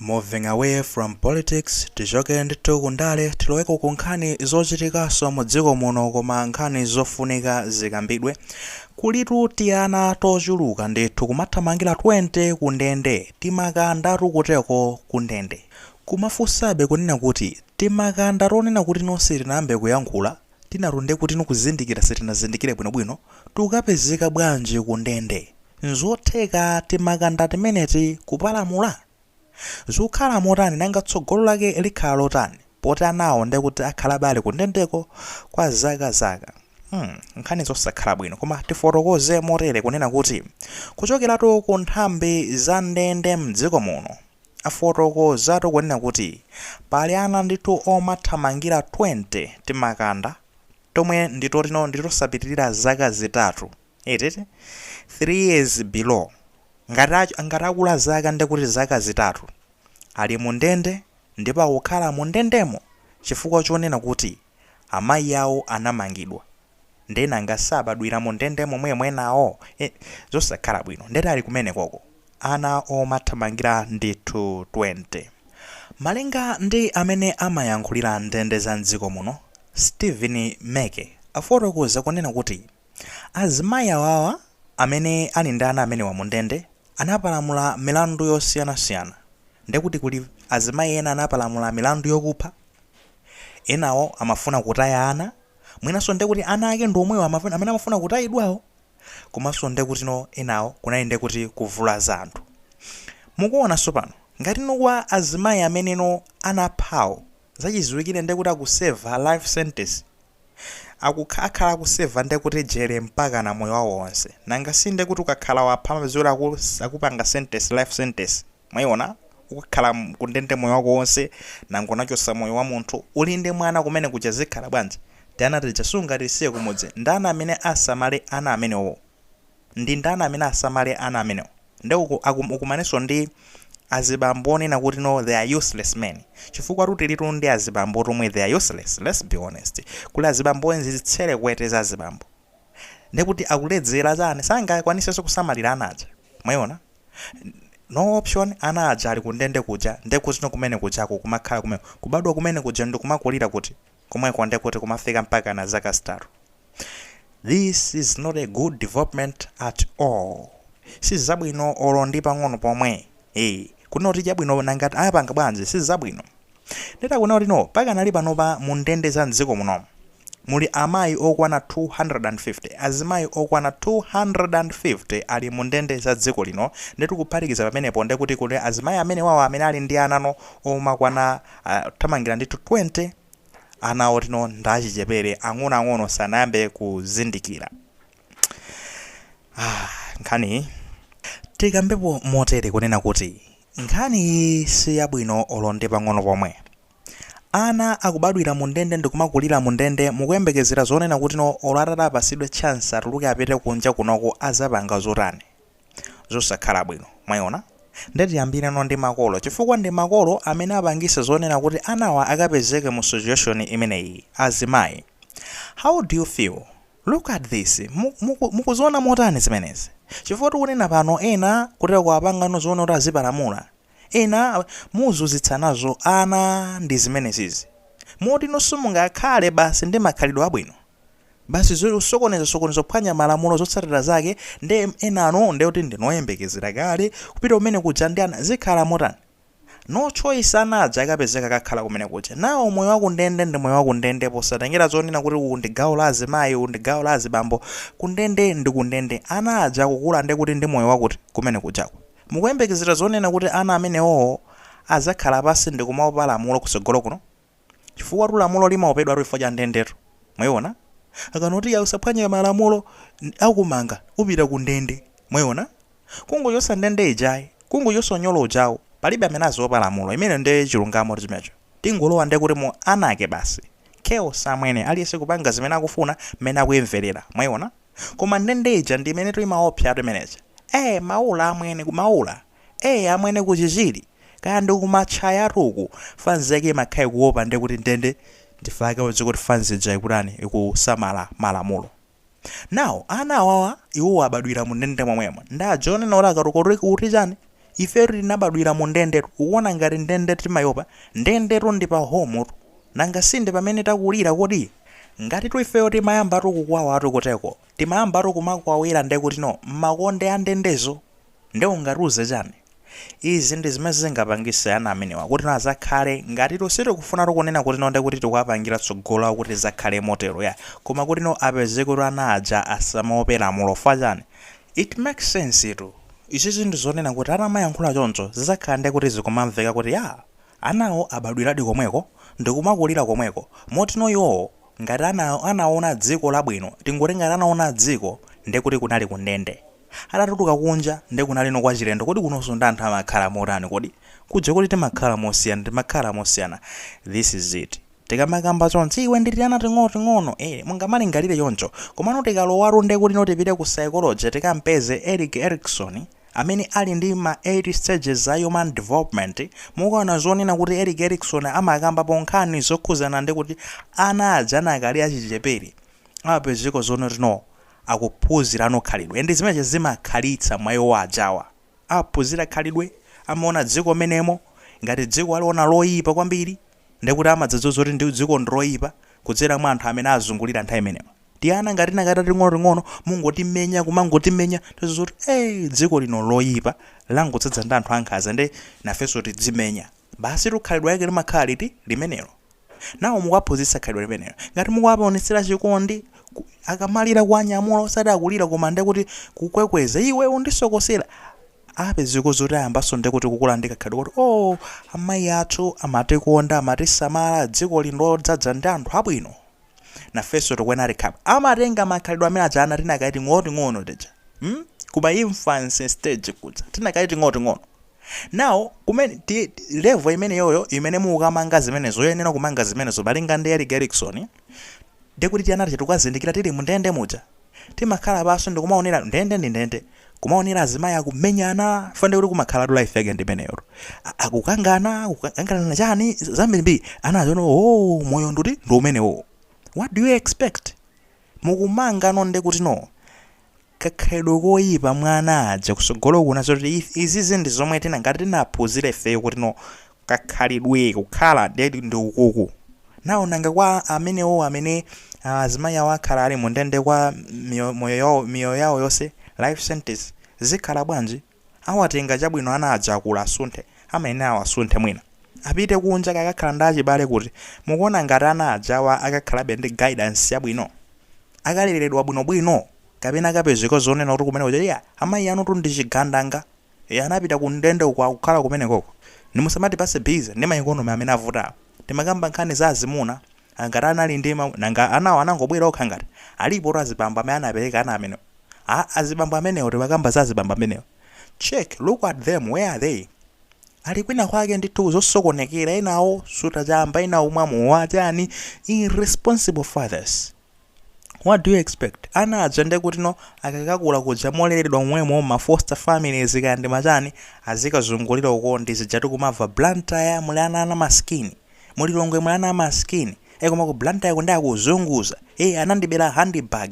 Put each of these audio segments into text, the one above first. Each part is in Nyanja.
Moving away from politics, tichokere ndithu ku ndale tiloweko ku nkhani zochitikaso mu dziko muno koma nkhani zofunika zikambidwe. Kulitu tiana tochuluka ndithu kumathamangila 20 ku ndende, timakandatu kuteko ku ndende. Kumafunsabe kunena kuti timakanda tonena kuti no sitinayambe kuyankhula, tinato nde kuti nikuzindikira sitinazindikire bwinobwino tukapezeka bwanji ku ndende? nzotheka timakanda timeneti kupalamula? zukhala motani nanga tsogolo lake likhala lotani poti anawo nde kuti akhala abe ali ku ndendeko kwa zaka zaka hmm nkhani zosakhala bwino koma tifotokoze motere kunena kuti kuchokeratu ku nthambi za ndende mdziko muno Afotokozatu kunena kuti pali ana ndithu omathamangira 20 timakanda tomwe ndi totino ndi tosapitirira zaka zitatu eti 3 years below ngati ngati akula zaka ndekuti zaka zitatu ali mu ndende ndipo akukhala mu ndendemo chifukwa chonena kuti amayi awo anamangidwa Nde nanga sabadwira mu ndende momwemo enawo? Eh zosakhala bwino. Nde ali kumene koko? Ana omathamangira ndithu 20. Malinga ndi amene amayankhulira ndende za m'dziko muno, Stephen Meke afotokoza kunena kuti azimayi awawa amene ali ndi ana amenewa mu ndende anapalamula milandu yosiyanasiyana. Ndekuti kuli azimayi ena anapalamula milandu yokupha, enawo amafuna kutaya ana. mwinanso nde kuti ana ake ndi omwewo amaf, amene amafuna kutayidwawo komanso nde kuti no enawo kunali nde kuti kuvulaza anthu mukuona tsopano ngati no kwa azimayi amene no anaphawo zachiziwikire nde kuti akuseva life sentence akukh, akhala akuseva nde kuti jere mpakana moyo wawo onse nanga si nde kuti ukakhala wapha amapezewa kuti aku, akupanga sentence life sentence Mwaiona? Ukakhala kundende moyo wako wonse, nanga unachotsa moyo wa munthu, uli ndi mwana kumene kuja zikhala bwanji? Tiana tija sungatisiye kumudzi. Ndani amene asamale ana amenewo? Ndi ndani amene asamale ana amenewo? Nde uku, aku, ukumanenso ndi azibambo onena kuti no they are useless men. Chifukwatu tilitu ndi azibambo oti omwe they are useless, let's be honest. Kuli azibambo enzi zitserekwete za azibambo. Ndekuti akuledzera chani? Sangakwanisenso kusamalira ana aja. Mwaiona? no option ana aja ali kundende kuja ndekuti no kumene kujako kumakhala kumeneko kubadwa kumene kuja ndikumakulira kuti komweko ndekuti kumafika mpaka na zaka zitatu this is not a good development at all sizabwino olo ndi pang'ono pomwe eh kunoti tchabwino nanga ati anapanga bwanji sizabwino Nde takuona kuti no pakadali panopa mu ndende za m'dziko muno muli amayi okwana 250, azimayi okwana 250 ali mu ndende za dziko lino ndetu kuphatikiza pamenepo ndekuti kuli azimayi amenewawa amene ali ndi ana no omakwana kuthamangira ndithu 20, ana oti no ndi achichepere ang'onoang'ono sanayambe kuzindikira. ah, nkhaniyi tikambepo motere kunena kuti nkhani iyi si yabwino olo ndi pang'ono pomwe ana akubadwira mu ndende ndikumakulira mu ndende mukuyembekezera zonena kuti no olo atati apasidwe chance atuluke apite kunja kunoko azapanga zotani zosakhala bwino mwayiona nde tiyambire no ndi makolo chifukwa ndi makolo amene apangise zonena kuti anawa akapezeke mu situation imeneyi azimayi how do you feel Look at this, muku, mukuziona motani zimenezi? Chifukwa tikunena pano ena kutera kuwapanga nozoona kuti azipalamula, ena muzunzitsa nazo ana ndi zimenesizi, moti no simungakhale basi ndi makhalidwe abwino, basi zosokoneza sokoneza kuphwanya malamulo zotsatira zake nde enanu ndekuti ndinu oyembekezera kale kupita kumene kuja ndi ana, zikhala motani? No choice ana aja akapezeka akakhala kumene kuja. Nawe moyo wa kundende ndi moyo wa kundende posatengera zonena kuti uku ndi gawo la azimayi, uku ndi gawo la azibambo. Kundende ndi kundende. Ana aja akukula nde kuti ndi moyo wakuti kumene kujako. Mukuyembekezera zonena kuti ana amenewowo adzakhala pansi ndi kumaopa lamulo kutsogolo kuno? chifukwatu lamulo limaopedwatu chifukwa cha ndendetu mwaiona akanati ya usaphwanye malamulo n- akumanga upita ku ndende mwaiona kungochotsa ndende ijayi kungochotsa unyolo ujawo palibe amene aziopa lamulo imene nde chilungamo ndi chimenecho tingolowa nde kuti mu anarchy basi chaos amwene aliyense kupanga zimene akufuna mmene akuyimverera mwaiona koma ndende ija ndi imene timaopsatu imeneja eh maula amwene kumaula Eee amwene ku Chichiri kaya ndi ku Matchayatu uku fanzi yake imakhala ikuopa nde kuti ndende chifukwa chake udziwe kuti fanzi ija ikutani ikusamala malamulo now ana awawa iwowo abadwira mu ndende momwemo nde adzanena akakula kuti kuti chani ifetu tinabadwira mu ndendetu ukuona ngati ndende timaiopa ndendetu ndi pa home tu nanga si ndi pamene takulira kodi ngatitu ifeyo timayambatu kukwawatu kuteko timayambatu kumakwawira nde kuti no mmakonde a ndendezo Nde ungatiuze chani? Izi ndi zimene zingapangise ana amenewa kuti no azakhale ngatitu sitikufunatu kunena kuti no ndekuti tikuwapangila tsogolo lawo kuti lizakhale motelo yayi koma kuti no apezeketu ana aja asamaope lamulo fukwa chani it makes sense tu izizi zinthu zonena kuti atamayankhula choncho zizakhala ndekuti zikumamveka kuti yaa anawo abadwiladi komweko ndikumakulila komweko moti no iwowo ngati anaona dziko labwino tingoti ngati anaona dziko ndekuti kunali kundende Atatuluka kunja nde kunalino kwachilendo kodi kunonso ndi anthu amakhala motani kodi? Kuja kuti timakhala mosiyana timakhala mosiyana this is it tikamakamba chonchi iwe ndi tiana ting'onoting'ono ee mungamalingalire choncho komano tikalowatu nde kutino tipite ku psychology tikampeze Erik Erikson amene ali ndi ma 8 stages a human development mukaona zonena kuti Erik Erikson amakambapo nkhani zokhudzana ndi kuti ana aja anakali achichepere amapezeka zonoti no akuphunzirano khalidwe and zimene zimakhalitsa mwa iwo ajawa aphunzira khalidwe amaona dziko menemo ngati dziko aliona loipa kwambiri ndekuti amadzadziwa kuti ndi dziko ndiloipa kudzera mwa anthu amene azungulira nthawi imeneo tiana ngati tinakati tating'onoting'ono mungotimenya kumangotimenya tiona zoti ee dziko lino nloipa langodzadza ndi anthu ankhanza nde nafenso tidzimenya basitu khalidwe lake limakhala liti limenelo nawo mukuwaphunzitsa khalidwe limenelo. Ngati mukuwaonetsera chikondi, ku, akamalira kuwanyamula osati akulira koma ndiye kuti kukwekweza iwe undisokosera apezeka zoti ayambanso ndiye kuti kukula ndi kakhalidwe koti oh amayi athu amatikonda amatisamala dziko lino ndi lodzadza ndi anthu abwino nafenso tikuyenera tikhale amatenga makhalidwe amene aja ana tinakali ting'onoting'ono tija hmm? kuma infancy stage kuja tinakali ting'onoting'ono Now, kumene, ti, level imeneyoyo imene mukukamanga zimenezo, yoyenera kumanga zimenezo, malinga ndi Erik Erikson, ndiye kuti tiana tija tikukazindikira tili mundende muja. Tikukhala pansi ndikumaonera, ndende ndi ndende, kumaonera azimayi akumenyana, chifukwa ndiye kuti kumakhalatu life yake ndi imeneyotu. A- Akukangana, kukanganirana chani, z- zambirimbiri. Ana aziona, oh, moyo nduti ndi umenewo. What do you expect? Mukumangano ndiye kuti no, kakhalidwe koyipa mwa ana aja kusogolo kuna zoti izizi ndi zomwe tina ngati tinaphunzira ifeyo kuti no kakhalidwe kukhala ndi ndi ukuku now nanga kwa amenewo amene ah, azimayi awo akhala ali mu ndende kwa miyo- moyo yawo- miyoyo yawo yonse life sentence zikhala bwanji Awatenga chabwino ana aja akula asunthe amayenera awasunthe mwina apite kunja kukakhala ndi achibale kuti mukuona ngati ana ajawa akakhalabe ndi guidance yabwino akaleredwa bwinobwino kapena akapezeka zonena kuti kumene kuja iya amayi anutu ndi chigandanga e, anapita ku ndende uko akukhala kumenekoko ndiye musamatipatse busy ndi maeconomy amene avutawa timakamba nkhani za azimuna a ngati anali ndi ma nanga anawo anangobwera okha ngati? alipotu azibambo amene anabereka ana amenewo. a azibambo amenewo timakamba za azibambo amenewo. check, look at them where are they? ali kwina kwake ndithu zosokonekera ena kusuta chamba ena kumwa mowa chani irresponsible fathers. what do you expect ana aja ndekutino akakakula kuja moleredwa mwemo ma foster families kaya ndi machani azikazungulira uko ndi zija tikumava blantyre muli ana ana maskini mu Lilongwe muli ana amaskini e koma ku blantyre kunde akuzunguza e anandibera handbag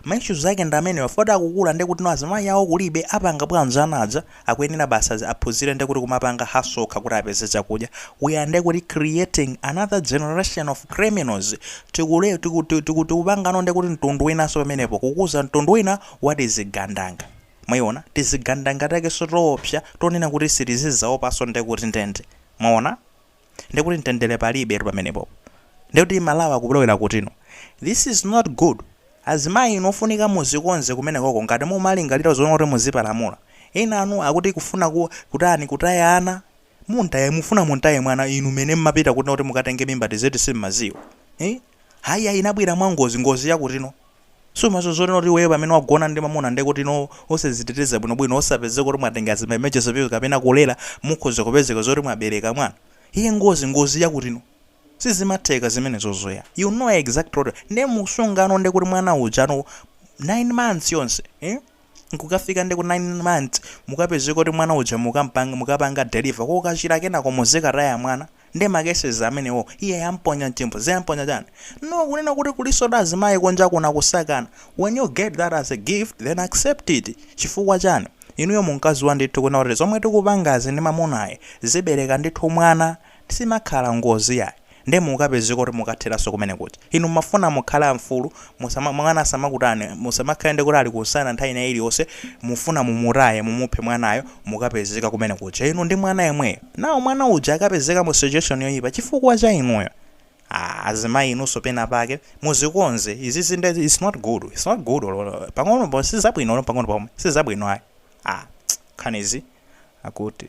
ma issues ake ndi amenewa poti akukula ndekutino azimayi awo kulibe apanga bwanji ana aja akuyenera basi aphunzire nde kuti kumapanga hustle okha kuti apeze chakudya we are nde kuti creating another generation of criminals tiku tiku tikupangano nde kuti mtundu winanso pamenepo kukuza mtundu wina wa tizigandanga mwayiona tizigandanga takenso toopsa tonena kuti sitizidzaopanso nde kuti ndende mwaona ndiye kuti mtendere palibetu pamenepo ndiye kuti malawi akulowera kutino this is not good azimayi inu ofunika muzikonze kumeneko ko ngati mumalingalira zonena kuti muzipalamula ena anu akuti kufuna ku, kutani kutaya ana muntaye mufuna muntaye mwana inu mene mmapita kutino kuti mukatenge mimba tizeti simmadziwa eh? Ayi ayi inabwera mwangozi ngozi yakutino. Sumadziwa zonena kuti iweyo pamene wagona ndi mamuna ndiye kuti no osaziteteza bwino bwino osapezeka kuti mwatenga zima emergency pill kapena kulera mukhoza kupezeka zoti mwabereka mwana. Iye ngozi ngozi yakutino. Sizimatheka zimenezozo yayi. You know exactly. Ndiye musungano ndiye kuti mwana uja no 9 months yonse. Eh? nkukafika ndi ku 9 months mukapezeka kuti mwana uja mukampanga mukapanga deliver kokachira kenako muzikataya mwana ndi ma cases amenewo iye yamponya mchimbudzi yamponya chani no kunena kuti kulinso ndi azimayi kunja kuna akusaka ana when you get that as a gift then accept it chifukwa chani inuyo munkadziwa ndithu kunena kuti zomwe tikupangazi ndi mamunayi zibereka ndithu mwana Simakhala ngozi yayi nde mukapezeka kuti mukatheranso kumene kuja. Inu mmafuna mukhale amfulu musama mwana asamakutani musamakhale ndekuti ali kumsana nthawi ina iliyonse mufuna mumutaye mumuphe mwanayo mukapezeka kumene kuja inu ndi mwana yemweyo naye mwana uja akapezeka mu situation yoyipa chifukwa cha inuyo aah azimayi inunso pena pake muzikonze izizi nde it's not good it's not good olo pang'ono po sizabwino olo pang'ono pomwe sizabwino ayi aah nkhanizi akuti.